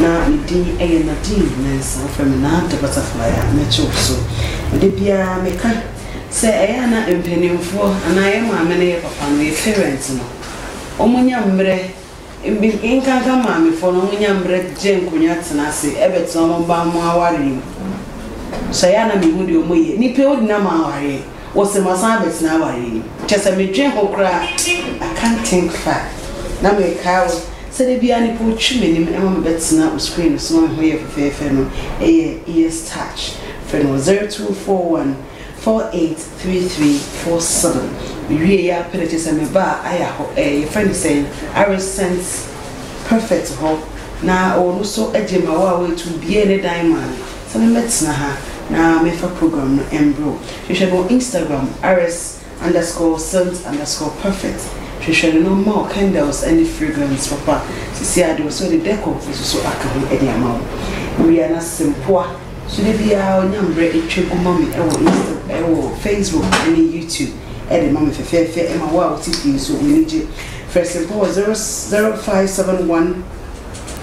Na ne din yɛ Nadine Mensah. Wɔfrɛ me Nad the Butterfly a mɛkyew so. Da biara meka sɛ ɛyɛ a na mpanimfoɔ anaa yɛn maame ne yɛn papa no, yɛn parents no, wɔnya mmerɛ, nkanka maamefoɔ no, wɔnya mmerɛ gye nkonnwa tena ase bɛtena wɔn mma wɔn awareɛ mu. So ɛyɛ a na mehu deɛ wɔyɛ? Nnipa a wɔde nam awareɛ. Wɔse masan abɛtena awareɛ mu. Kyɛsɛ medwen ho koraa I can't think far Na mekae wo sɛ da biara nipa ɔtwi m'anim ma me bɛtena wo screen no so ma me ho yɛ fɛfɛɛfɛ no yɛ Ears Touch Frɛ no wɔ 0241 483347 Mewiee a pɛ na kyerɛ sɛ mebaa Aya hɔ ɛɛ yɛfrɛ no sɛn Arescent Perfect hɔ na ɔno nso gye ma wo a woatu obiara ne dan ma no. Sɛ me mɛ tena ha na me fa program no mbro hwehwɛ no Instagram rs underscore scent underscore perfect hwehwɛ no na ɔma wo candles ne fragrance papa sisi a de ɔsɛ ɔde decor nso so aka ho de ama wo wia na sɛ mpoa so da biara ɔnya mbrɛ etwa gu ma me ɛwɔ insta ɛwɔ facebook ne youtube ɛde ma me fɛfɛɛfɛ ɛma wo a wo te fie nso w'ani gye frɛ sempoa wɔ zero zero five seven one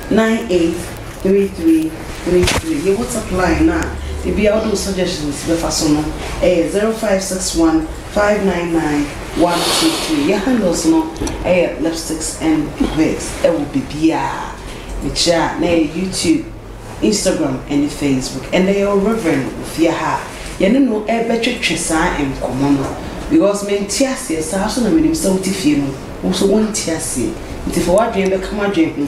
nine eight three three three three yɛ whatsapp line no a ebia wode wo suggestions bɛfa so no ɛyɛ zero five six one five nine nine one two three yɛ handles no ɛyɛ lipsticks and wigs ɛwɔ bebiaa mekyerɛ a na ɛyɛ youtube instagram ɛne facebook ɛnɛ yɛ wɔ reverend ofie ha a yɛne no ɛbɛtwetwe saa nkɔmmɔ no because mente aseɛ saa so na menim sɛ wote fie no wo so wonte aseɛ nti fa w'adwene bɛka m'adwene ho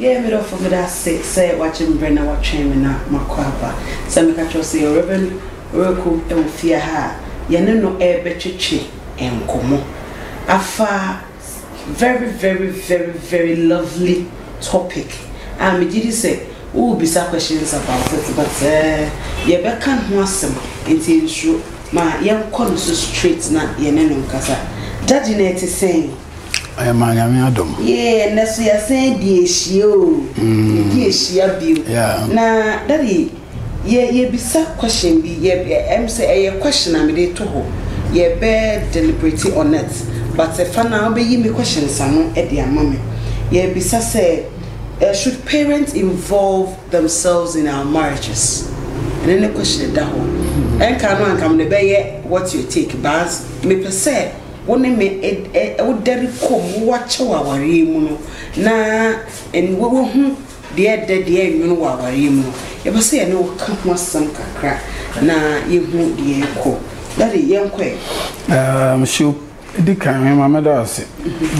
Yɛɛ me dɔfo bi dase sɛ wagye me berɛ na watwɛn me na makɔ aba. Sɛ meka kyerɛ wo sɛ Rev. Reku wɔ fie ha a, yɛne no rebɛtwetwe nkɔmmɔ afa very very very very lovely topic a megye di sɛ worebisa questions about it but yɛbɛka ho asɛm nti nsuro. Ma yɛnkɔ no so straight na yɛne no nkasa. Daddy na ɛte sɛn? Ɛyɛ maa Nyame adom. Yee ɛnɛ so yɛasan di ahyia o yɛdi ahyia bio yeah. Na daddy yɛ yɛbisa question bi yɛ ɛm sɛ ɛyɛ question a mede to hɔ yɛbɛ deliberate on it but fa no a wobɛyi me questions ano de ama me yɛbisa sɛ eh, should parents involve themselves in our marriages ɛne ne question da hɔ ɛnka no anka mede bɛyɛ what your take but mepɛ sɛ wo ne me wodɛre kɔm, wo akyew awareɛ mu no, na wahu deɛ ɛdɛ, deɛ ɛnwono wɔ awareɛ mu no, yɛpɛ sɛ yɛne wo ka ho asɛm kakra na yɛhu deɛ ɛkɔ. Daddy, yɛnkɔ ɛ. Um, so, di kan hwɛ ma mɛda ase.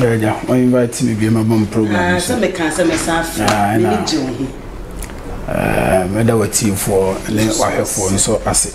Ɛgya, mhm. wɔn invite mi bi ma bom program. Ah, sɛ mɛka sɛ mɛsa afra, ah, mɛmi gye wo ho. Ah, mɛda w'atiefoɔ ne w'ahwɛfoɔ nso ase.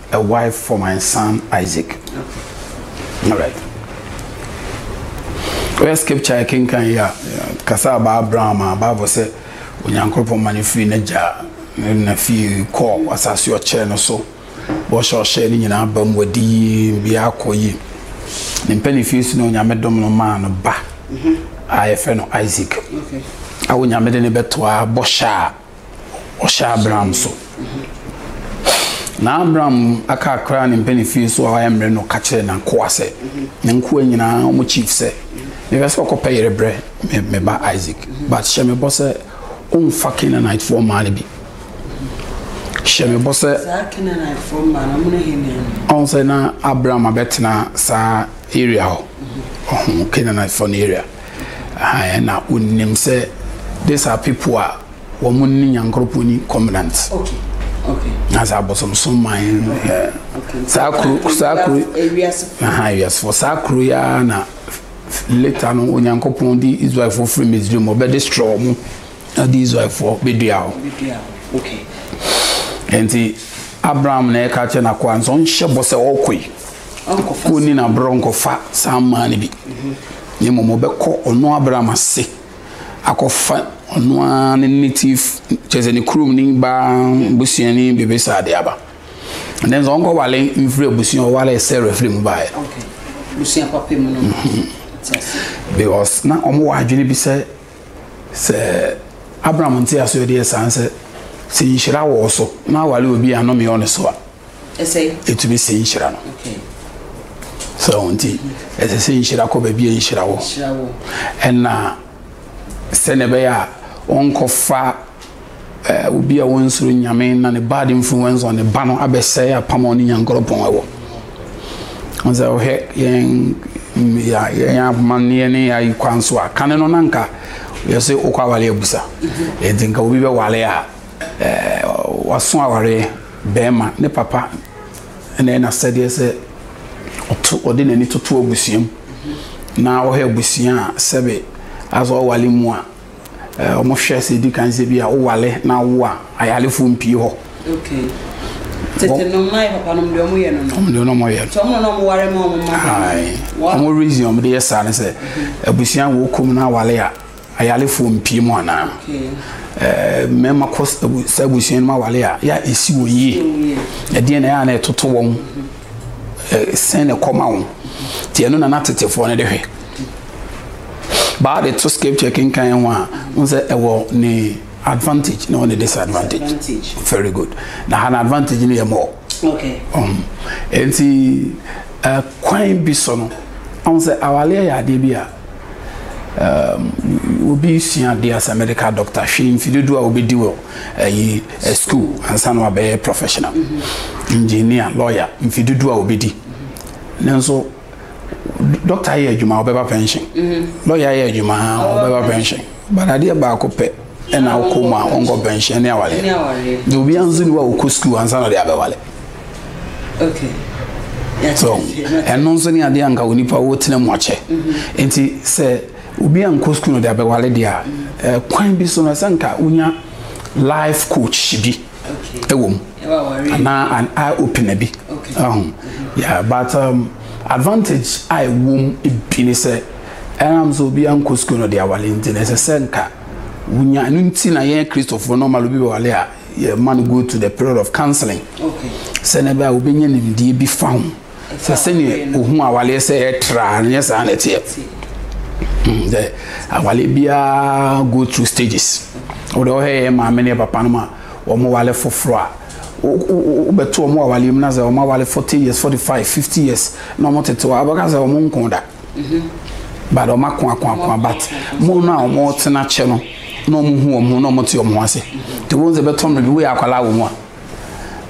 a wife for my son Isaac. All right. Where scripture I can can ya kasa ba Abraham a Bible sɛ Onyankopɔn ma no firi n'agya na fie kɔɔ asase ɔkyɛɛ no so wɔhyɛ ɔhyɛ no nyinaa ba mu wɔdi yie bia akɔ yie ne mpɛ ne fie so na Onyame dom no maa no ba a yɛfrɛ no Isaac a Onyame de ne bɛtoa bɔhyɛ a ɔhyɛ Abram so. Na Abram aka akra ne mpɛ ne fie so a wayɛ mmerɛ no ka kyerɛ n'akoa sɛ, ne nkoa nyinaa wɔn chief sɛ, mepɛ sɛ ɔkɔpɛ yere brɛ me me ba Isaac, but hyɛ me bɔ sɛ ɔmfa Canaanitefoɔ mmaa no bi. Hyɛ me bɔ sɛ. Saa Canaanitefoɔ mmaa no, wɔn ne hene no. Ɔn sɛ na Abram abɛtena saa area hɔ, ɔho Canaanitefoɔ no area. Aane, na wɔnim sɛ these are people a wɔn ne Nyankoropɔn ni covenant. Okay. Okay. Na saa abosomsom man ɛ saa kuro saa kuro aha ewiasefo saa kuro yi ara na later no Onyankopɔn de Israelfoɔ firi Misraim ɔbɛ destroy wɔn na de Israelfoɔ bɛdua hɔ. Okay. Nti Abraham na ɛka kyɛ n'akoa nso ɔnhyɛ bɔ sɛ ɔkɔ yi. ɔnni no aberɛ ɔnkɔfa saa mmaa no bi na mmom ɔbɛkɔ ɔno abram ase akɔfa ɔno ara ne native kyerɛ sɛ ne kurom ne baa busuani biribi saa de aba ɛnɛ nso ɔnkɔwale mfiri abusua ɔwale sɛ refiri mu baeɛ because na wɔn wɔ adwene bi sɛ sɛ abraham nte aso yɛ deɛ saa sɛ sɛ nhyira wɔ so na awale obi a nnome wɔ ne so a ɛtumi sɛ nhyira no sɛ ɔho nti ɛsɛ sɛ nhyira kɔ baabi a nhyira wɔ ɛna sɛnea ɛbɛyɛ a wɔnkɔfa eh, obi a wɔnsoro nyame na ne bad influence on ne ba no abɛsɛe apam a ɔne nyankorɔpɔn ɛwɔ sɛ wohwɛ yɛn yɛn amanneɛ ne yɛayi kwan so a kane no na nka yɛsɛ wokɔ awale abusa ɛnti nka obi bɛwale a eh, waso awareɛ Barima, ne papa na ɛyɛ n'asɛdeɛ sɛ ɔto, ɔde n'ani toto abusua mu na ɔhwɛ abusua a sɛbe asɛ ɔwale mu a, ɛɛ wɔn hwɛ sɛ edi kan sɛ bi a ɔwale na awo a ayalefoɔ mpie hɔ. Okay. Tete nom na yɛ papa nom deɛ wɔn yɛ no no. Wɔn deɛ wɔn yɛ. Tɔn wɔn na wɔn ware ma wɔn ma. Ayi. Wɔn reason wɔn de yɛ saa ne sɛ abusua wɔ kɔm na awale a. Ayalefoɔ mpie mu anaa? Mmarima kɔ saa abusua no mu awale a, yɛ a ɛsi wɔn yie. Ɛdeɛ na ɛyɛ a na ɛtoto wɔn sɛn na ɛkɔma wɔn. Nti ɛno na na tetefoɔ no de hwɛ. Baa de to scripture kenkan ho a, n sɛ ɛwɔ ne advantage na ɛwɔ ne disadvantage. Very good. Na ha na advantage no yɛ mɔ. Um, nti kwan bi so no, ɔn sɛ awale yɛ adeɛ bi a. Erm, obi sua adeɛ asɛ medical doctor hwɛ mfi dodoɔ a wobɛdi wɔ ayi eh, eh, school ansa na wabɛyɛ professional mm-hmm. engineer lawyer mfi dodoɔ a wobɛdi nanso doctor ayɛ adwuma wobɛba pension mm-hmm. lawyer ayɛ adwuma wobɛba pension but adeɛ baako pɛ ɛna wokɔ mu a wɔnkɔ pɛnhyɛn ne awareɛ na obiara nso ni wa wokɔ sukuu ansa na ɔde abɛwale so ɛno nso ne adeɛ anka onipa wotena mu akyɛ mhm. nti sɛ obi ankɔ sukuu na ɔde abɛwale deɛ a eh, kwan bi so no ɛsɛ nka wonya life coach bi ɛwɔ mu anaa an eye opener bi mhm. but um, advantage a ɛwɔ mu bi ne sɛ Ɛnam sɛ obiara nkɔ sukuu na ɔde aware nti no, ɛsɛ sɛ nka wonya. Ɛno nti na yɛn Kristofo no ma obi bɛware a, yɛma no go to the period of counseling. Sɛ na ɛbɛyɛ a wobɛnya nimdeɛ bi fa ho. Sɛ sɛnea ohu awareɛ sɛ ɛtra a, ɛnyɛ saa na ɛteɛ. Hmm, sɛ awareɛ biara go through stages. Wode ɔhɛ yɛ maame ne papa no ma wɔn wale foforɔ a, wobɛto wɔn awareɛ mu na sɛ wɔn aware forty years, forty five, fifty years na wɔn tete hɔ a, wobɛka sɛ wɔn nko da. but wɔn ako ako ako but mo no a wɔn tena kyɛ no na wɔn hu wɔn ho na wɔn te wɔn ho ase te wɔn sɛ bɛtɔ mmerɛ bi woyɛ akwadaa wɔ mu a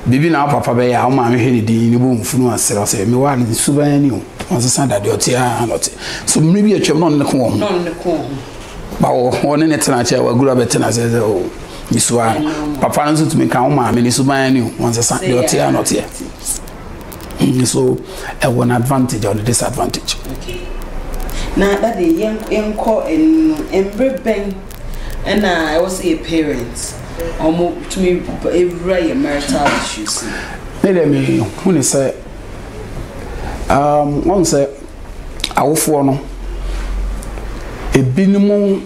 biribi na papa bɛyɛ a wɔn maame hwɛ ne din ne bɔ nfunu asrɛ ɔsɛ mi wa ne nsu bɛn ni o wɔn sesa dade ɔte a na ɔte so mmerɛ bi atwam na ɔne ne ko wɔn ho ba wɔ ɔne ne tena kyɛ waguru abɛtena sɛ sɛ o nsuwa papa no nso tumi ka wɔn maame ne nsu bɛn ni o wɔn sesa deɛ ɔte a na ɔteɛ. nso ɛwɔ n'advantage ɛwɔ ne disadvantage. Okay na dade yɛn yɛnkɔ ɛnu no mbre bɛn ɛna ɛwɔ sɛ yɛ parents ɔmo tumi ewura yɛ marital issues. Ne deɛ mi hu ne sɛ um, wɔn sɛ awofoɔ no ebinom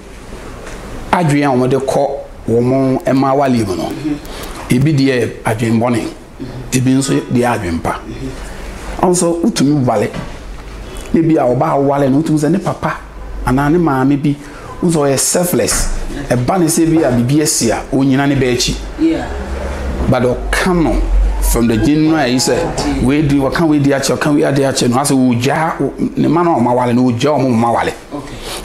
adwene a wɔn de kɔ wɔn mmaa wale mu no ebi deɛ adwene bɔne. Ebi nso deɛ yɛ adwempa. Ɔno nso wotumi wale. Ebi a ɔbaa wale no wotumi sɛ ne papa anaa ne maame bi nso ɔyɛ selfless. Ɛba ne sɛ bi a biribi asi a onyina ne ba akyi. But ɔka no from the January sɛ wei di ɔka wei di akyɛ ɔka wei adi akyɛ no asɛ ɔgya ne ma no a ɔma wale no ɔgya ɔmo ma wale.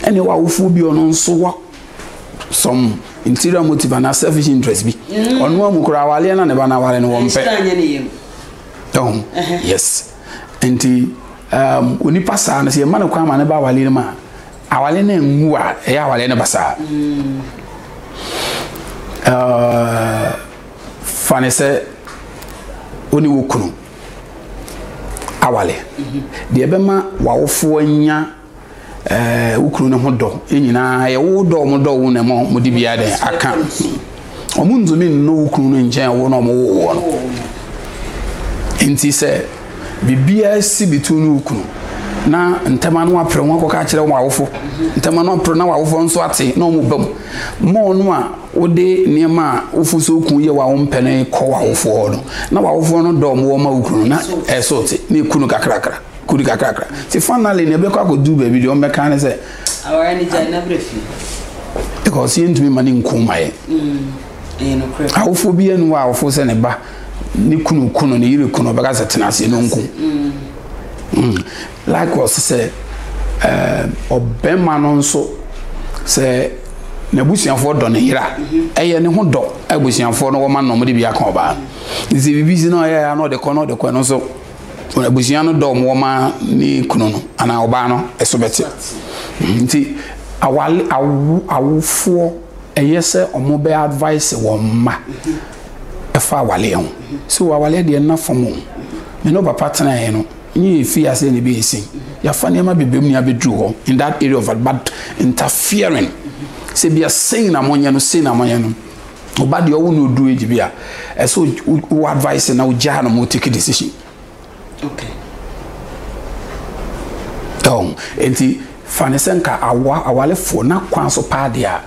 Ɛne wɔ awofoɔ bi ɔno nso wɔ some interior motive and a selfish interest bi mm. ɔno amu koraa awaleɛ na ne ba no awale no wɔmpɛ ɛho yes nti um, onipa saa no sɛ yɛma no kwan ma ne ba awale no mu a awale no anwu a ɛyɛ awale no basaa mm. uh, fa ne sɛ wo ne wo kunu awale mm-hmm. deɛ ɛbɛma wawofoɔ nya ɛɛ wo kunu no ho dɔ nyinaa yɛ wo dɔ wɔn dɔ wo na ɛma wɔn de biara dɛn aka wɔn ntumi nnɔ wo kunu no nkyɛn wo na wɔn wo wɔn nti sɛ biribiara si bi tu ne wo kunu na ntɛm ano apere ho akɔka akyerɛ wɔn awofo ntɛm ano apere na wɔn awofo nso ate na wɔn bam ma wɔn a wɔde nneɛma a wofu so kun yɛ wɔn mpɛ no kɔ wɔn awofo hɔ no na wɔn awofo no dɔ wɔn wɔn ma wo kunu na ɛso te na ekunu kakrakra. Kodi kakrakra. Ti finally na ɛbɛkɔ akɔduru baabi deɛ ɔmbɛka ne sɛ. Awara ne gya na brɛ fi. Because yɛntumi ma ne nku ma yɛ. Mm, awofoɔ bi ɛnu wɔ awofoɔ sɛ ne ba ne kunu kunu ne yere kunu ɔbɛka sɛ tena aseɛ no nku. Mm. Mm. Likewise sɛ ɛɛ ɔbɛma no nso sɛ n'abusuafoɔ dɔ ne yera mm-hmm. ɛyɛ ne ho dɔ abusuafoɔ no wɔma nnɔm de bi aka ɔbaa. Nsɛ biribi si na ɔyɛ ya na ɔde kɔ na ɔde kɔ no nso. wɔn abusua no dɔ wɔn wɔma ne kunu no anaa ɔbaa no ɛso bɛte nti awale awo awofoɔ ɛyɛ sɛ wɔn bɛ advice wɔn mma ɛfa awaleɛ ho sɛ wɔ awaleɛ deɛ nna fam o me ne papa tenaeɛ no nye efi ase na ebi esi yafa nneɛma bebree mu na abɛduru hɔ in that area of but interfering sɛ bia sei na monyɛ no sei na monyɛ no Oba deɛ ɔwo na odu age bi a ɛsɛ wo advice na ogyaa no ma otake decision. Okay. Ɛwɔ enti fa ne sɛ nka awa awalefoɔ na kwan so paa deɛ a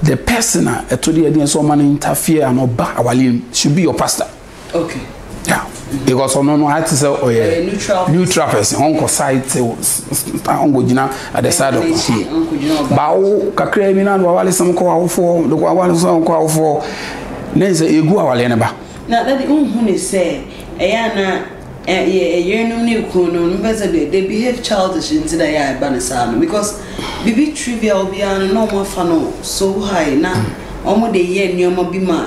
the person a ɛto deɛ deɛ nso ɔma no interfere ano ba awale should be your pastor. okay yeah because ɔno no ayɛ te sɛ ɔyɛ neutral person ɔnkɔ side te ɔnkɔ gyina at the side of ɔho baawo kakra bi na do awale sɛm kɔ awofoɔ do awale sɛm kɔ awofoɔ ne sɛ egu awale ne ba. na dade nhu ne sɛ ɛyɛ ana yɛ yerenom ne kunu no no bɛ sɛ deɛ they behave childish nti na ɛyɛ a ɛba ne saa no because biribi trivial biara no na wɔn afa no so high na wɔn de yɛ nneɛma bi ma.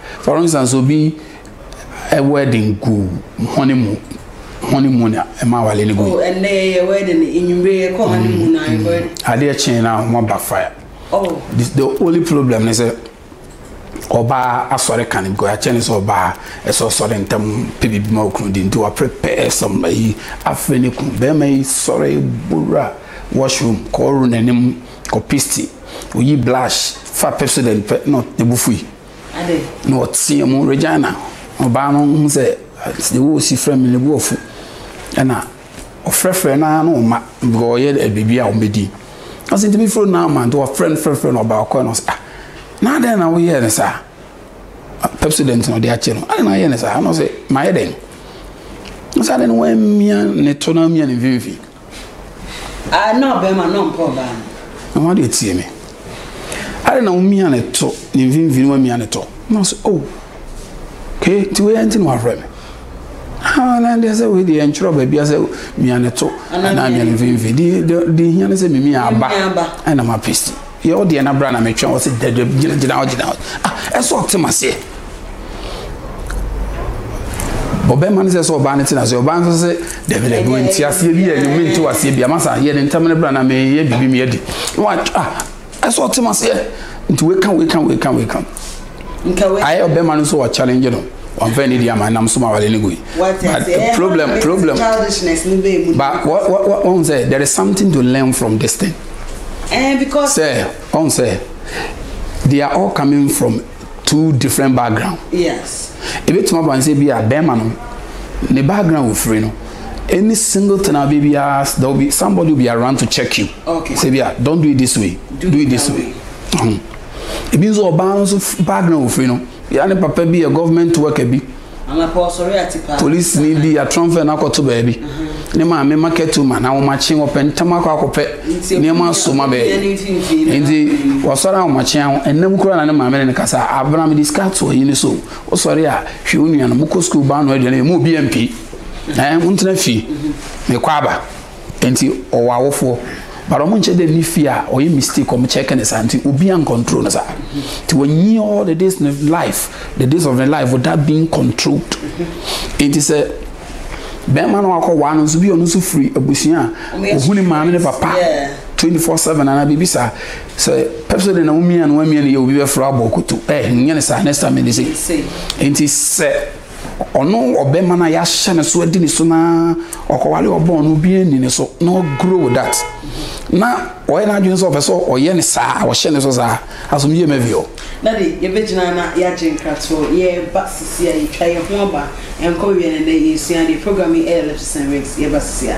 For instance, obi wedding gu honeymoon honeymoon a ɛma awale no gu. Oh, ɛnna yɛyɛ wedding enyimire yɛ kɔ honeymoon na yɛkɔ. Adeɛ kyen na wɔn backfire. Oh. The, the only problem ne sɛ ɔbaa asɔre ka no because akyɛ ne sɛ ɔbaa ɛsɛ ɔsɔre ntɛm pɛ biribi ma okunu di nti wa prepare some ayi afei ne kunu bɛrima yi sɔre bowura washroom kɔɔro n'anim kɔ pisti oyi blush fa pepsodent pɛ na ne bo fui. na ɔteaa mu, Regina, ɔbaa no hu sɛ deɛ wɔresi frɛ me no bu ɔfo. Ɛna ɔfrɛfrɛ no ara na ɔma bika ɔyɛ biribi a wɔbɛdi. Ɔsɛ ntumi firi no ama nti ɔfrɛ no frɛfrɛ no ɔbaa ɔkɔɛ no sɛ ah na adɛn na woyɛɛ no saa? Pepsodent na ɔde akyɛ no. Adɛn na ayɛ no saa? Ɛna ɔsɛ mayɛ dɛn? Ɔsɛ adɛn na wammia ne to na wammia ne mfimfini? Ah, na ɔbɛrima na ɔmpɛ ɔbaa no. Na wɔn adeɛ tie me. Ade na womia ne to ne mfimfini wamia ne to. Na so oh. Ke ti wei ɛnti na wafrɛ me. Ah, na deɛ sɛ wei deɛ ntwerɛ baabi asɛ mia ne to anaa mia ne mfimfini. Di di di hia ne sɛ mimi aba. Ɛna ma pesi. Yɛ wo deɛ na bra na metwɛn wɔ sɛ gyina gyina gyina hɔ gyina hɔ ah ɛsɛ ɔte ma seɛ ɔbɛma no sɛ sɛ ɔbaa no te na se ɔbaa no sɛ dabi dabi wɔn ti aseɛ bi yɛ ne mente waseɛ bi ama sa yɛ ne ntam ne bra na meyɛ biribi meyɛ di na wa ah ɛsɛ ɔte ma seɛ nti weka weka weka weka ayɛ ɔbɛma no nso wɔ challenge no wɔn fɛn ne di ama nam so ma wale ne goyi but eh, problem problem but wɔn sɛ there is something to learn from this thing. sɛ ɔn sɛ they are all coming from two different background ebetumi aba nsɛ bi a bɛrima no ne background ofiri no any single thing a baby as there will be somebody will be around to check you sɛ bi a don't do it this way do it this way ebi nso ɔbaa no nso background ofiri no yɛ ne papa bi yɛ government worker bi. Polisini bi atrɔnfɛ no akɔto baabi. Ne maame ma kɛto ma na wɔakye wɔpɛ ntam akɔ akɔpɛ nneɛma so ma bɛɛ. Nti wɔsɔre a wɔakye ho ɛnam kura na ne maame ne no kasa abena mede sika to ayi ne so. Wosɔre a hwɛ wo nua no mokɔ sukuu ba no aduane mu obi ampie. Ɛɛ wontena fie mekɔ aba. Nti ɔwɔ awofoɔ but ɔmo nkyɛ dɛ ne fie a ɔyɛ mistake ɔmo kyɛke ne saa nti obi an control no saa nti wanyi all the days ne life the days of ne life without being controlled nti sɛ bɛrima no wakɔ waa no nso bi ɔno nso firi abusua a ohu ne maame ne papa twenty four seven anaa biribi saa sɛ pɛpsɛ de na womia no wamia no yɛ obi bɛfra abɔ koto ɛ nyɛ ne saa next time ne se nti sɛ Ɔno ɔbɛma na yɛahyɛ ne so adi ne so na ɔkɔware ɔbɔn no obi anni ne so na ɔgrow with that na ɔyɛ n'adwene sɛ ɔpɛ sɛ ɔyɛ ne saa ɔhyɛ ne so saa asom yie ma bio. Daddy yɛbɛgyina na yɛagye nkratoɔ yɛreba sisi a yɛtwa yɛn ho aba ɛnkɔ wie no ɛnɛ yɛresua adeɛ program yi ɛyɛ Lipsis and Wigs yɛba sisi a.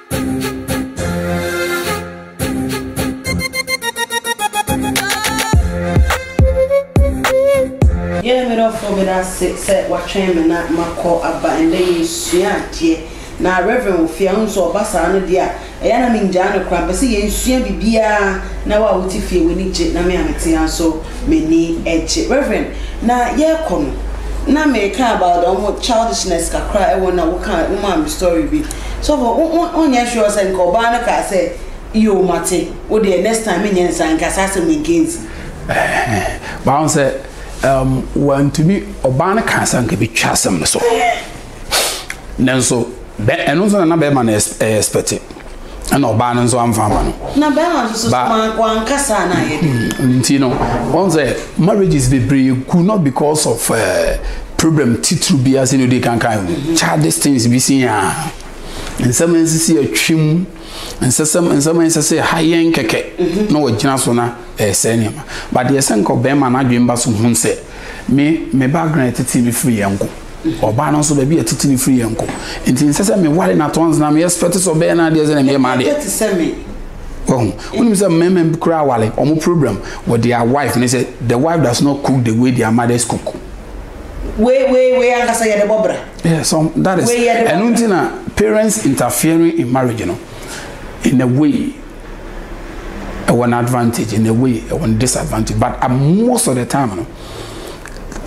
Yɛne me dɔfoɔ bɛda ase sɛ watwɛn me na makɔ aba ɛndɛ yɛsua adeɛ na Reverend Ofie a wohu sɛ ɔba saa no deɛ a ɛyɛ na mengyaa no koraa mepɛ sɛ yɛnsua biribiara na wo a wote fie w'ani gye na me a mete ha nso m'ani gye Reverend na yɛrekɔ no na mereka about wɔn childishness kakra ɛwɔ na woka wo maa me story bi Sɔfo, wo, wo, wonyɛ sure sɛ nka ɔbaa no kaa sɛ, Yoo, mate, wo deɛ, next time menyɛ nsa, nka saa asɛm yi nka nsi? Ɛhɛɛ, wahu sɛ, um, wantumi, ɔbaa no kaa sɛ nka bɛtwa asɛm no so. Nanso, bɛ, ɛno nso na na bɛrima no ɛyɛ expect. Ɛna ɔbaa no nso amfa ama no. Na bɛrima nso so, ba, wanka saa na ayɛ dɛ. Nti no, wahu sɛ, marriages bebree gu not because of uh, Problem titiriw biara sɛnea odi kan kae no, childish things bi si aa. Nsɛm a ɛnsɛ sɛ yɛtwe mu, nsɛsɛm nsɛm a ɛnsɛ sɛ ɛha yɛn kɛkɛ mhm. na wɔgyina so na ɛresɛe nneɛma. But deɛ sɛ nka ɔbɛrima no adwene ba so hu sɛ me me background ɛtete me firi yɛn nko. ɔbaa no nso baabi a ɛtete ne firi yɛ nko nti nsɛ sɛ meware no atɔns na meyɛ spɛte sɛ ɔbɛyɛ no adeɛ sɛ na meyɛ ma adeɛ wahu wonim sɛ mmarima bi koraa aware ɔmo program with their wife ne sɛ the wife does not cook the way their mothers cook wei wei wei ankasa yɛ de bɔ bra. yeah so that is ɛnu ti na parents interfering in marriage no in a way ɛwɔ an advantage in a way ɛwɔ an disadvantage but uh, most of the time no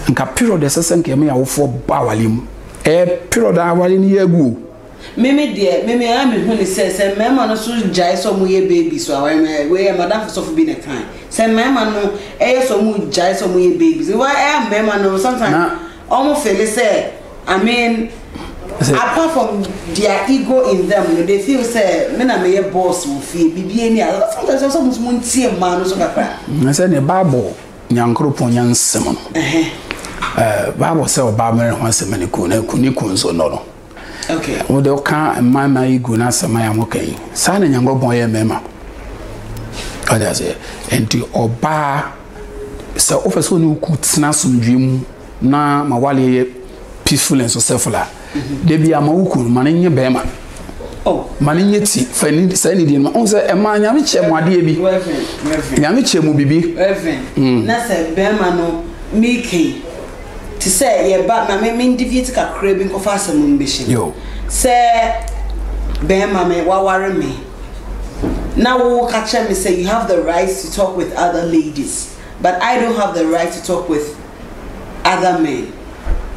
nka period ɛsɛ sɛ nka ɛmɛ awofoɔ ba awale mu ɛyɛ period awale no yɛ gu o. Me me deɛ me me a me hu ne sɛ sɛ mmarima no so gyae sɛ ɔmo yɛ babies wɔ aware mu wei yɛ madamfo sɔfo bi na ɛkae sɛ mmarima no ɛyɛ sɛ ɔmo gyae sɛ ɔmo yɛ babies wɔ ɛyɛ mmarima no sometimes ɔmo fele sɛ I mean apart from their ego in them no they feel sɛ me na me yɛ boss wɔ fie bibi ani a sometimes ɔsɛ ɔmo so mo ntie mmaa no so kakra. Na sɛ ne baabo nyankoropɔn nya nsɛm no ɛɛ baabo sɛ ɔbaa mmerɛ ho asɛm ne kun ne kun nso nɔ no. Okay, wode woka mmarima yi gu n'asɛm a wɔka yi saa na nyankopɔn yɛ mmarima ɔde aseɛ nti ɔbaa sɛ wofɛ sɛ ɔne woku tena asomdwe mu na ma waleɛ yɛ peaceful and successful a mhm. da bi ama woku no ma no nyɛ bɛrima oh. ma no nyɛ ti fa saa nidie no ma ɔhu sɛ ɛma nyame kyɛ mu adeɛ bi nyame kyɛ mu biribi mm. na sɛ bɛrima no mekei te sɛ yɛba na me me deviate kakra bi nkɔfa asɛm mu mbɛhyɛ mu sɛ bɛrima me waware me na wo ka kyerɛ me sɛ you have the right to talk with other ladies but I don't have the right to talk with other men.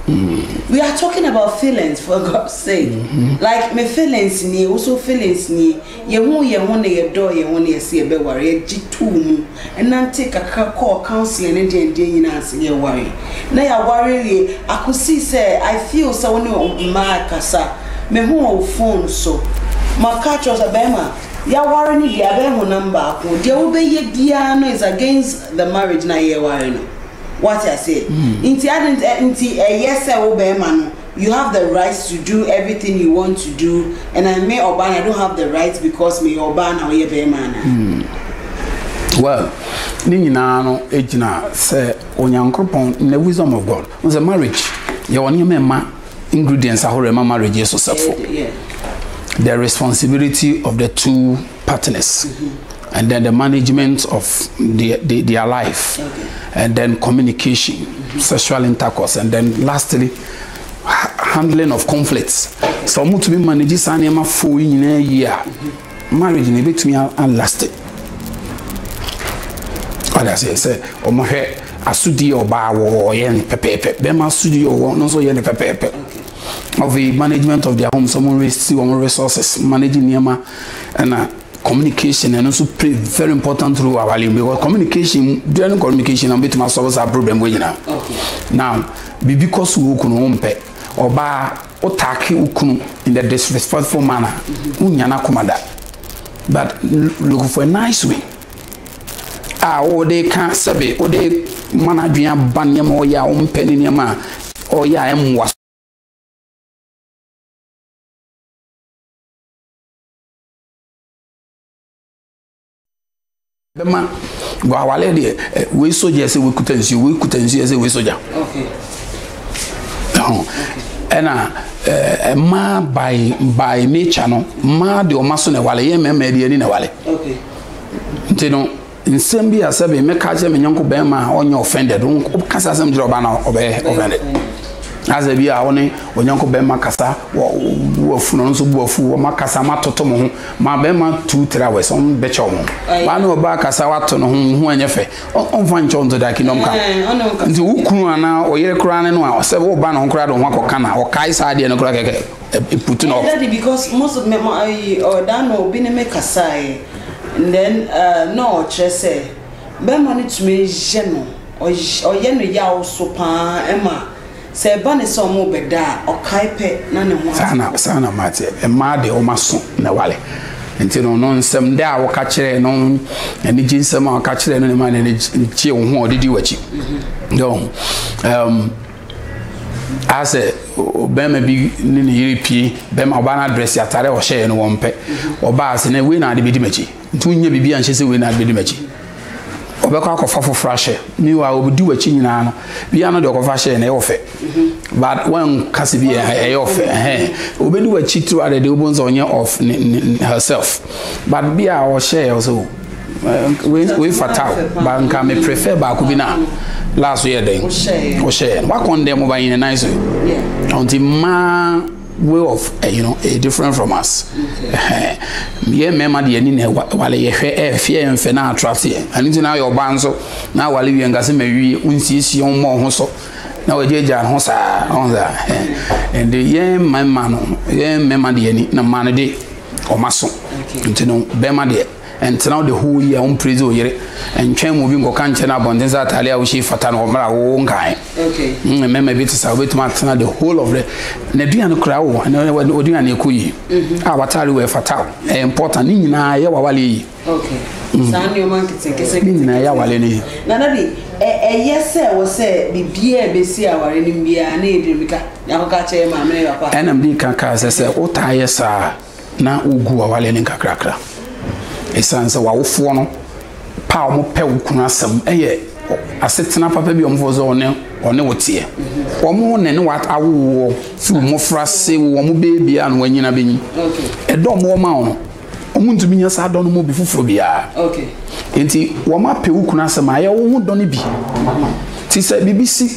Mm. We are talking about feelings for God's sake. Mm -hmm. Like my feelings ni, also feelings ni. Yɛhuu yɛn ho na yɛdɔɔ yɛn ho na yɛse yɛbɛware. Yɛgye too mu, nantee kakra kɔɔ counselling ne deɛn deɛn nyinaa ansa na yɛwaree. Na yɛaware awie akosii sɛ I feel sɛ wo ne mmaa rekasa, mehu wo phone so. Maka akyerɛ wo sɛ bɛɛma, yɛaware no deɛ abɛyɛ honam baako. Deɛ wobɛyɛ biara no is against the marriage no a yɛreware no. Woate aseɛ? Nti adɛn nti ɛyɛ sɛ wo bɛɛma no You have the right to do everything you want to do and I me ɔbaa na I don't have the right because me yɛ ɔbaa na ɔyɛ bɛrima ana. Hmm. Well, ne nyinaa no gyina sɛ onyankoropɔn na wisdom of God. N sɛ marriage yɛ wɔ nneɛma ɛma ingredients ahorow ɛma marriage yɛ successful. The responsibility of the two. partners and then the management of their, their, their life and then communication sexual intercourse and then lastly handling of conflicts sɛ wɔn tumi manage saa nneɛma fo yi nyinaa yie a marriage na ebetumi alasti ɔde ase sɛ wɔhwɛ asodi a ɔbaa wɔ ɔyɛ no pɛpɛɛpɛ bɛrima asodi a ɔwɔ no nso yɛ no pɛpɛɛpɛ. Afei management of their home sɛ wɔn resi wɔn resources manage nneɛma ɛna communication ɛno nso play very important role awale mu because communication during communication na wɔbɛtumi asɔrɔ saa problem wɔ nyinaa now biribi kɔ so wɔ kunu wɔn mpɛ ɔbaa ɔtaake okunu in the disrespectful manner wonya n'akoma da but look for a nice way. a wode reka sɛbe wode ma n'adwene aba nneɛma ɔyɛ a ɔmpɛ ne nneɛma a ɔyɛ a ɛmmoa so. bɛma guawale deɛ eh, wei sogya sɛ wɔkuta nsuo wei kuta nsuo sɛ wei sogya ɛna eh, mmaa by by nature no mmaa deɛ ɔma so na ɛwale yɛ mmarima deɛ ni na ɛwale Nti no, nsɛm bi a sɛbe mɛka akyerɛ me nyɔnko bɛrima a ɔnyɛ offended. Wokasa saa asɛm kyerɛ ɔbaa no a ɔbɛyɛ offended. Asɛ bi a wo ne onyɔnko bɛrima kasa wɔ bu afu no nso bu afu wɔn akasa wɔn atoto mo ho ma bɛrima two three hours wɔn bɛkyɛw mo. Baa ne ɔbaa kasa wato ne ho ne ho anyɛ fɛ ɔnfa nkyɛw nto da kingdom ka. Nti wo kunu anaa ɔyere koraa ne no a sɛ wo ba ne ho koraa de ho akɔka na ɔkae saa adeɛ no koraa kɛkɛ. eh, it put off. Daddy, because most of me, I, or oh, that no, be me kasai, and then, uh, no, chese, be money to me, jeno, or yeno yao so pa, Emma. sɛ ɛba ne sɛ ɔmo bɛda a ɔkae pɛ na ne ho ate. saa na saa na ɔmo ate mmaa deɛ ɔmo aso na wale nti no ɔno nsɛm dɛ a wɔka kyerɛ no anigye nsɛm a wɔka kyerɛ no ne ma ne ne kye wo ho a ɔde di w'akyi dɛ ɔho ayɛ sɛ ɔbɛrima bi ne ne yere pie bɛrima ɔbaa no adrɛse ataare a ɔhyɛeɛ no wɔn pɛ ɔbaa ase na wei na ade bɛdi m'akyi nti wonyɛ biribi anhyɛ sɛ wei na ade bɛdi m'akyi ɔbɛkɔ akɔfa foforɔ ahyɛ meanwhile ɔbɛdi w'akyi nyinaa no bia no deɛ ɔkɔfa hyɛɛ no ɛyɛ ɔfɛ but wanka sɛ bi ɛyɛ ɔfɛ ɛhɛn ɔbɛdi w'akyi throughout the day wobɛhu sɛ ɔnyɛ off herself but bi a ɔhyɛɛ ɔsɛ wei wei fata o ba nka me prefer baako bi na last yɛ dɛn wohyɛ wakɔn dɛ mo ba yɛn nan so ɔnti mmaa way of eh, you know eh, different from us yɛ mmarima deɛ ni na wale yɛhwɛ ɛfeɛ eh, yɛn fɛ na attract yɛn ɛno nti na ayɛ ɔbaa nso na wale wie nka sɛ mawie wonsiesie wɔn mmɔ ho so na wɔgyagya ho saa ɔn saa ɛnde yɛn mmarima no yɛn mmarima deɛ ni na mmaa no de wɔn aso nti no bɛrima deɛ ɛntena wo de hoo yi a wompire dze oyere ntwɛn mu bi nkɔka nkyɛn no abɔnten sɛ ataade a wohyɛ fata no ɔmmra wo nkae mm, mmarima bi te sa wobɛtumi atena the whole of the n'aduane koraa wo ɔduane ɛkɔ yi mhm. a wataare wɔ ɛfata wo ɛyɛ important ne nyinaa ɛyɛ wawale yi Okay. Mm. Saa nneɛma nketenkese nketenkese. Nyinaa yɛ aware no yɛ. Na dadi ɛyɛ sɛ wɔ sɛ biribiara a ebesi aware no biara ne yɛde bi ka yɛakɔka kyerɛ maame ne papa. Ɛnam de ka kaa sɛ sɛ wotaa yɛ saa na wogu aware no nkakrakra. Ɛsiane sɛ w'awofoɔ no pa a wɔpɛ wo kunu asɛm ɛyɛ asetena papa bi a wɔfoɔ sɛ ɔne ɔne wo teɛ. Wɔn ne ne w'awowoɔ firi mmɔfra se wɔn beebia na wɔanyina bɛnyi. Ɛdɔ wɔn ma wɔn. Wɔntumi nya saa dɔ no mu bi foforɔ biara. Enti wɔapɛ wo kunu asɛm a, ɛyɛ wo ho dɔ no bi. Ti sɛ biribi si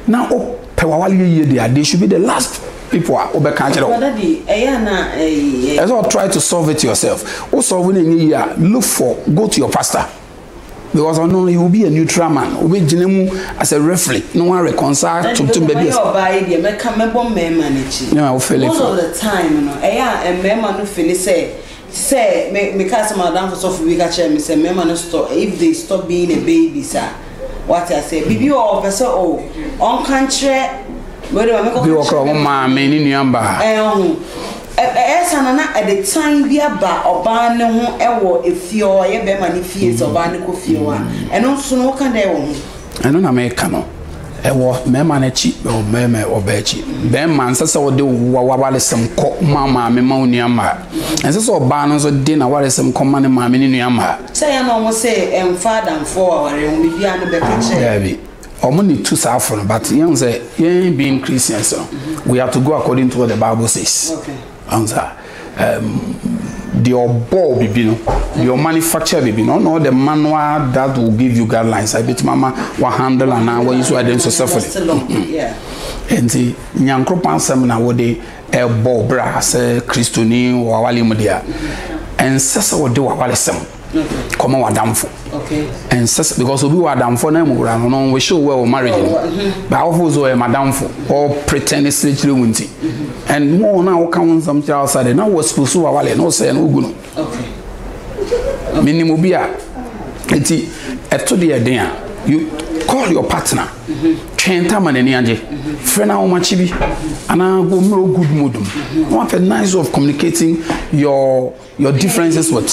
na wopɛ w'awareɛ yie deɛ a, they should be the last people a wobɛka akyerɛ wo. Ɛsɛ sɛ try to solve it yourself. Wo solve no ɛnyɛ yie a, look for, go to your pastor. because ɔno no he will be a neutral man obi gyina mu as a referee na wɔn reconcile to to baabi ɛsɛ. ɔbaa yi deɛ mɛka mɛbɔ mmarima n'akyi. na o fele fo. most of the time no ɛyɛ a mmarima no fele sɛ sɛ me me ka sɛ madam fosɔfo bi ka kyerɛ me sɛ mmarima no stop if they stop being a baby sa wate aseɛ biribi wɔ ɔpɛ sɛ o ɔnka nkyerɛ wɛde ma mɛkɔ ka kyerɛ. bi wɔ kora wɔn maame ne nua baa. ɛho. Ɛyɛ saa no, na ɛde tan bi aba ɔbaa no ho wɔ efie hɔ, ɛyɛ bɛrima no fie, sɛ ɔbaa no kɔ fie hɔ a. Ɛno nso no, woka dɛn wɔ ho? Ɛno na meka no. Ɛwɔ mmarima no akyi, ɛwɔ mmarima ɛwɔ ɔbaa akyi. Barima, ɛnsɛ sɛ wode w'awaresɛm kɔ ma wo maame ma wo nua mmaa. Ɛnsɛ sɛ ɔbaa no nso de n'awaresɛm kɔ ma ne maame ne nua mmaa. Sɛ yɛn na wɔn se ɛmfa adamfoɔ wɔ awareɛ ho, biribiara no bɛka kyerɛ. Daabi. Ɔmo na etu saa fo no but yɛn sɛ yɛn being Christians no we are to go according to what the bible says. Ɔn sa um, deɛ ɔbɔɔ bibi no deɛ ɔmanufacture bibi no ɔna ɔde ma no a that will give you guidelines a ebetumi ama wa handle anaa wa use ade nso sɛfoli. Nti nyankoropɔn asɛm na wɔde ɛbɔ bra sɛ kristoni wɔ awale mu deɛ ɛnsɛ sɛ wɔde wɔ awale sɛm. kɔma w'adamfo ɛnsɛ sɛ because obi wɔ adamfo na mu wura no no wish you well marriage no but awofo so ɛyɛ madamfo ɔ pretend sere kyerɛ wo nti and mo na woka ho nsɛm kyerɛ outside na wɔ school so wawale na ɔsɛ no wogu no menim obi a nti ɛto deɛ den a you call your partner twɛn tama n'ani agye frɛ no ahomakye bi anaa go mmrɛ good mood mu na wapɛ nice of communicating your Your differences with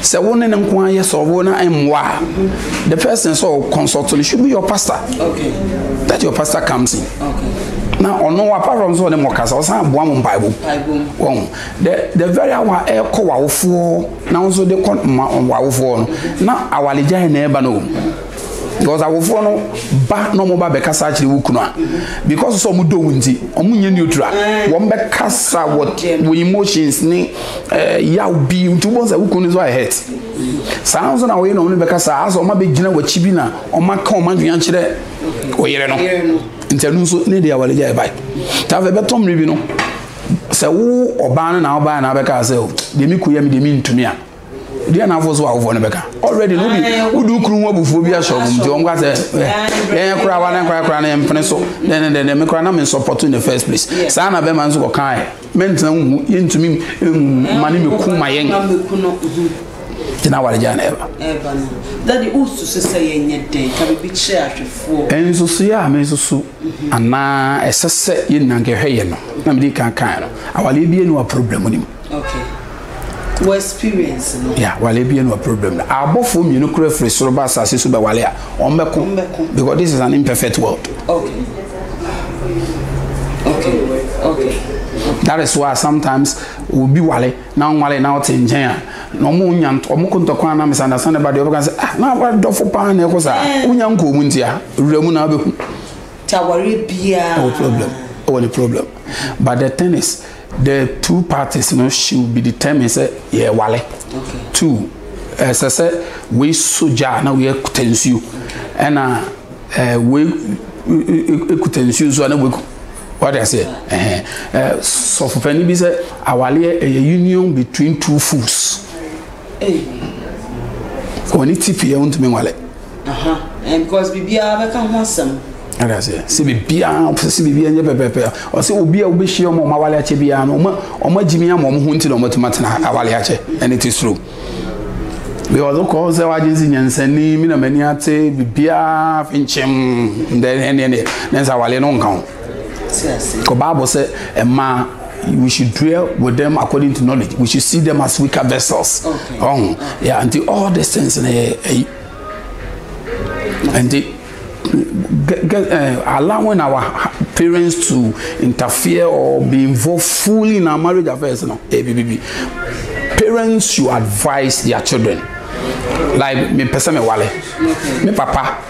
sɛ wo ne ne nko ara yɛ sɔrɔ na mmoa a the first thing sɛ ɔ consult no should be your pastor okay. that your pastor comes in okay. na ɔno apart from sɛ ɔne mo kasa ɔsan boa mo mpaebɔ wɔn the the very hour ɛkɔ wawofoɔ na nso de kɔ ma wawofoɔ no na awaregyae na ɛba no o. because awofoɔ no ba na wɔn ba bɛkasa akyerɛ wo kunu a because sɛ wɔn dɔ wo nti wɔn nyɛ neutral wɔn bɛkasa wɔ wɔ emotions ne ɛɛ eh, yaw bi nti wɔn sɛ wo kunu nso ayɛ hurt saa nso na wɔyɛ na wɔn bɛkasa asɛ wɔn abɛgyina wɔ akyi bi na wɔn aka wɔn adwene akyerɛ ɔyere no nti ɛno nso ne deɛ wɔde gya ɛbae taa fɛ bɛtɔ mmiri bi no sɛ wo ɔbaa no na ɔbaa na abɛka sɛ o deɛ mi kɔ yɛ mi deɛ mi ntumi a. deɛ na afo so awofoɔ no bɛka already no de wode wokunu ho abufuo bi ahyɛ ɔmom nti ɔmka sɛ yɛn koraa wa ne nkora koraa ne mpene so dɛnɛdɛnɛ me koraa na mensɔpɔto in the first place saa na bɛma nso kɔkae mentena mu yɛntumi ma ne mɛku ma yɛn nti na aware gyaa na ɛba nsusueɛ a mesusu anaa ɛsɛ sɛ yɛnna nkɛhwɛ yɛ no na mede kankan no awaleɛ bia ne wa problem no mu Okay. Wo experience no. Yeah, wale bi no problem na. Abɔfo mmienu kura firi soro ba asase so bɛ wale a, wɔn bɛ ko. Because this is an imperfect world. Okay. Okay. Okay. That is why sometimes obi wale na nwale na ɔte nkyɛn a na ɔmo nya ɔmo ko ntɔkwa na misunderstand ɛba deɛ ɔbɛka sɛ ah na awa dɔfo paa na ɛkɔ saa wonya nkɔɔ mu ntia wura mu na abɛhu. Tawari biara. Ɛwɔ problem ɛwɔ ne problem but the thing is. The two parties no should be determined sɛ yɛ wale. Okay. Two, ɛsɛ sɛ wei so gya na wei akuta nsuo. Ɛna ɛɛ wei ekuta nsuo nso a na wei wade aseɛ. Ɛhɛn ɛɛ sɔfopɛni bi sɛ awaleɛ ɛyɛ union between two fools. Wɔn ti pii a wɔntumi nwale. aha ɛn because biribiara bɛka ho asɛm ɛna sɛ sɛ biribiara ɔsɛ sɛ biribiara nyɛ pɛpɛpɛ ɔsɛ obi a wobɛhyia ɔma ɔma awale akyɛ biara no ɔma ɔma gyimi ama ɔmo ho nti na ɔmatumi atena awale akyɛ ɛne te suro because wokɔ sɛ wagye sɛ nyansani me na m'ani ate biribiara fi nkyɛm ɛne ɛne ne nsa awale no nka ho kɔ baabo sɛ ɛmaa we should dwell with them according to knowledge we should see them as weaker vessels ɔn yà nti all these things na yɛ ɛyi nti get uh, allowing our parents to interfere or be involved fully in our marriage affairs no ebi bi bi parents should advise their children like me pese me wale me papa.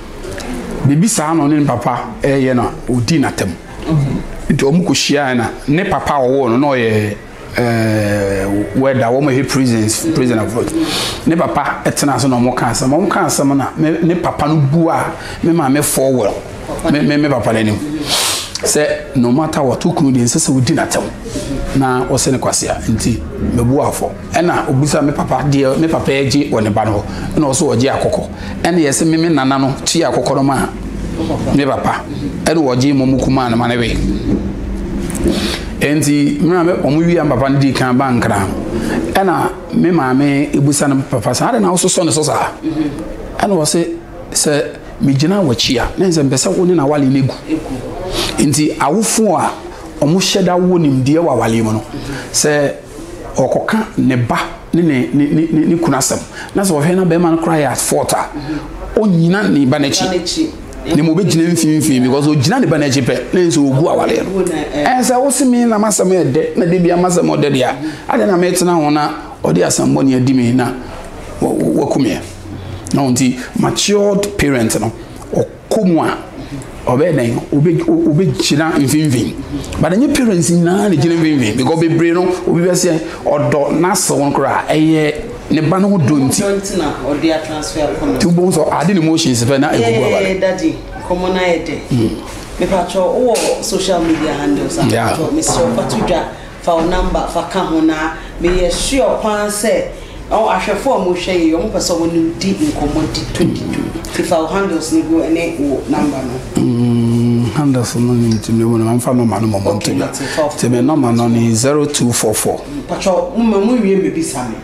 Mebisaa no ɔne ne papa reyɛ na ɔdii no atɛm. Nti wɔn kɔhyiaeɛ na ne papa a ɔwoo no na ɔyɛ ɛɛ wɛda wɔn yɛ prisons prison of what ne papa tena ase na wɔn ka asɛm wɔn ka asɛm na me ne papa no bua me maame fɔ wɔ me me me papa n'anim sɛ no matter what okunu deɛ nsɛ sɛ ɔdi n'atɛm na ɔsɛ ne kwasea nti mebua fɔ. Ɛna ɔbisa me papa deɛ me papa agye wɔ ne ba no hɔ. Ɛna ɔso ɔgye akɔkɔ. Ɛna yɛse me me nana no kyi akɔkɔ no maa me papa. Ɛna ɔgye mɔ mu kumaa no ma ne we. Enti mmerɛ me ɔmo wie a me papa no dii kan ba nkran. Ɛna me maame ebisa no papa saa de na wososɔ ne so saa. Ɛna ɔse sɛ me gyina wɔkyi a na nsɛ mpɛ sɛ wo ne na awale no egu. Enti awofo a ɔmo hyɛ da wɔ nimdeɛ wɔ awale mu no sɛ. ɔkɔka ne ba ne ne ne ne ne kunu asɛm na sɛ ɔhwɛ na bɛrima no koraa yɛ at fault a ɔnyina ne ba n'akyi na mu bɛgyina mfimfini because ɔgyina ne ba n'akyi pɛ na nso ɔgu awaleɛ no ɛn sɛ wo se me na masɛm yɛ dɛ na de bia masɛm ɔdɛ deɛ a adɛ na metena ho na ɔde asɛmbɔne adi me na wakumeɛ na ɔnti matured parent no kɔ mu a ɔbɛyɛ dɛn obe obe gyina mfinfin but nye parents nyinaa na gyina mfinfin because bebree no obi bɛ sɛ ɔdɔ n'asɛw no koraa ɛyɛ ne ba no ho dɔ nti ti o bɔn sɔ adi ne motions fɛ na egugu aba ne. dadi nkɔmɔ na yɛ dɛ mepatwɛ wowɔ social media handles a yeah. mesrɛ ɔfa to dwa Fa wo number fa ka ho na me yɛ sure paa sɛ ɔn ahwɛfo a ɔmo hwɛ yei ɔmo pɛ sɛ ɔmo ne wo di nkɔmɔ di to di to nti fa wo handles no gu ɛne wo number no. Mm handles no nim ti me mu no ma nfa number no mɔmɔ nti na ti me number no ne zero two four four. Mpakyɛw mo ma mo nwie mbɛ bisa me.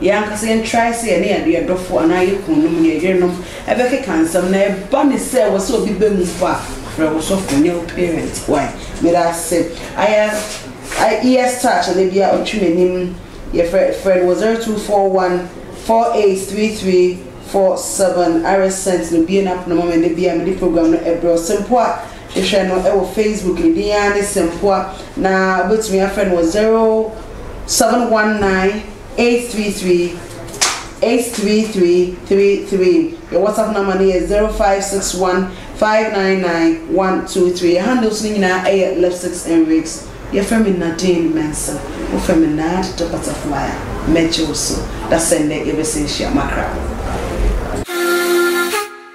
Yɛn ankasa yɛn trae sɛ yɛne yɛn adɔfo anaa yɛn kununom, yɛn yerenom bɛkeka nsɛm na ɛba ne sɛ ɛwɔ sɛ obi ba mu mpo a, frɛ wo sɔfo ne wo parent. Wai. Meda ase. Ayɛ IES touch anaa bia ɔtwe m'anim yɛfrɛ frɛ no wɔ 0241 483347 RSent no bue n'apono ma me da bia mede program no ɛbrɛ ɔsɛ mpo a. Hwehwɛ no wɔ Facebook, ne din ara ne Sempoa, na wobɛtumi afrɛ no wɔ 0719-833-83333. Yɛn WhatsApp number no yɛ 0561-599-123. Yɛn handles no nyinaa yɛ Lipsticks and Wigs. Yɛfrɛ me Nadine Mensah. Wofrɛ me Nad the Butterfly a, mɛgye wo so. Dasɛn dɛ yɛbɛsan ahyia. Makra.